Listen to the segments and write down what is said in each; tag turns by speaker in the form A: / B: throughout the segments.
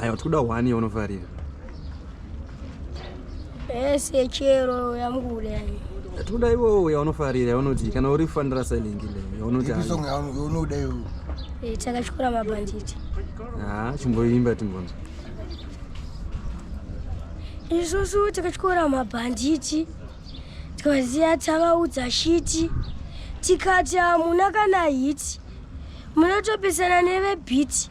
A: Haya, tikuda one yaunofarira. Ese chero yangu yani. Tikuda iwo yaunofarira yaunoti kana uri fanira silent le yaunoti. Ipi song yaunoda iwo. Eh, takachikora mabanditi. Ah, chimboimba timbonzo. Isusu takachikora mabanditi. Tikaziya tavaudza shiti. Tikati hamuna kana hiti. Munotopesana nevebhiti.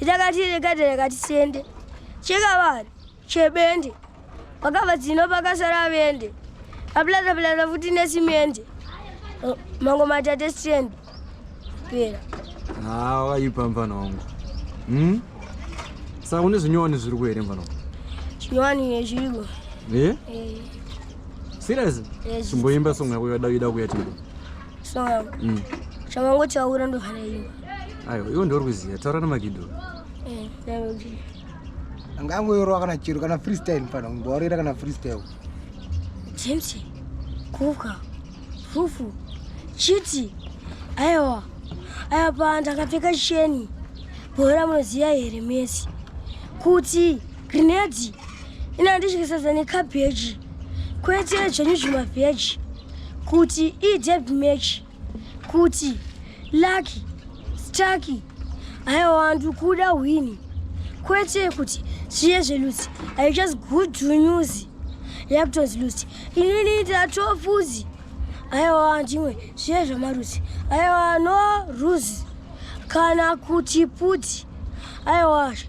A: itakati rekati rekati sende chekavari chebende vakava dzino pakasara vende apilata pilata futi nesimende mango matate sende pera haa wakaipa mvana wangu hmm? saka une zvinyowani zviri kuhere mvana wangu zvinyowani nezviriko e eh? eh. serious chimboimba song yako yada kuita kuya timbo Snow mm. Chamango chaura ndo hana iyo. Ayo, iyo ndo ruziya, taura na Magido. Eh, taura ndi. Angango yoro kana chiro kana freestyle mfana, ngorira kana freestyle. James, kuka, fufu, chiti, ayo, ayo pa ndakapfeka sheni, bora munoziya here mesi, kuti Grenade inandityisasa nekabheji kwete zvenyu zvimavheji kuti ideb match kuti lucky staki aiwa ndikuda hwini kwete kuti zviye zvelusi i just good to news yakutonzi lusi inini ndatofuzi aiwa ndimwe zviye zvamarusi aiwa no ruzi kana kuti puti aiwazve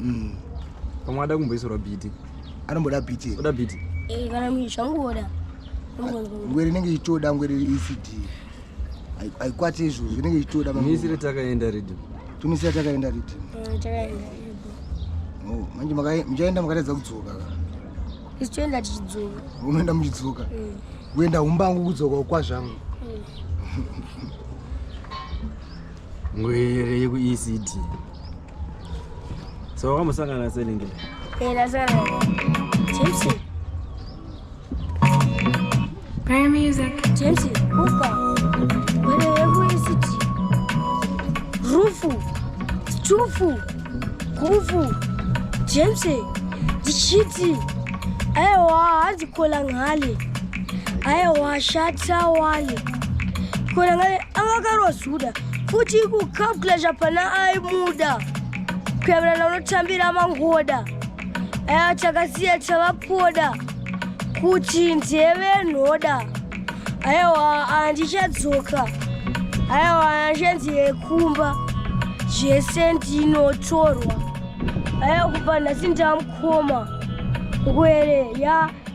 A: mm. pamwe ada kumboisorwa biti anomboda biti oda biti eh, kana zvangoda ngwere inenge ichitoda ngwere ecd haikwati izvozvo inenge ichitoda misire takaenda riddim tumisira takaenda riddim mm, oh, manje muchaenda makaredza kudzoka isu toenda tichidzoka unoenda muchidzoka mm. kuenda umbangu kudzoka ukwazvangu mm. ngwere yekuecd so wakamosangana naselingi rufu stufu gufu james ndichiti aiwa hanzi kola ngale aiwa shata wale kola ngale anga akarozuda futi kukabula zvapana aimuda kuyavirana unotambira mangoda aya takasiya tavapoda kuti ndeve nhoda aiwa andichadzoka aiwa anachanzi yekumba zvese ndinotorwa aya kubva nhasi ndamukoma ngwere ya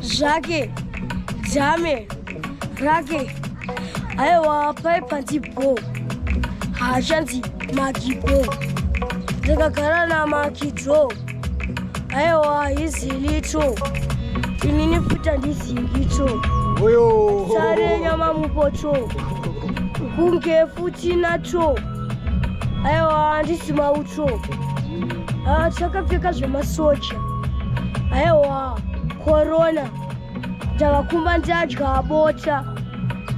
A: zvake jame rake aiwa pai panzi bho haachanzi makibho ndakagara namakidro aiwa hizilito inini futa ndizingito sare nyama mupoto kunge futi nato aiwa handisi mauto ah, takapfeka zvemasoja aiwa korona ndava kumba ndadya bota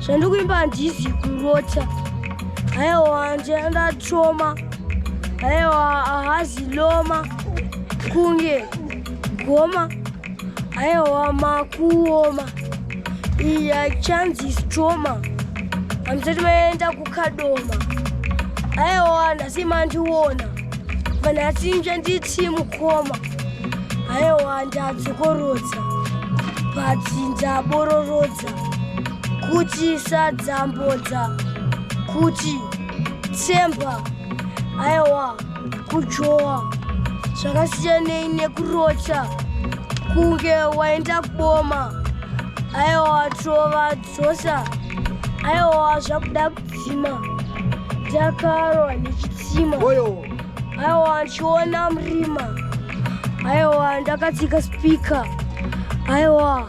A: zvandikuimba handizi kurota aiwa ndatoma aiwa hahazi loma kunge goma Aiwa makuoma. Iya chanzi is trauma. Hamsati maenda kukadoma. Aiwa nhasi mandiona. Vanhasi inja nditi mukoma. Aiwa ndadzokorodza. But ndabororodza. Kuti sadzambodza. Kuti tsemba. Aiwa. kujowa zvakasiyanei nekurocha kunge waenda kuboma aiwa tova dzosa aiwa zvakuda kudzima ndakarwa nechitsima aiwa ndichiona murima aiwa ndakatsika spika aiwa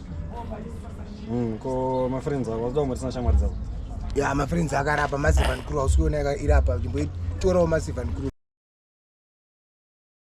A: Mm, ko mafriends ako wazoda kumbotisina shamwari dzako ya mafriends akarapa masivan crew hausi kuona irapa chimboitorawo masivan crew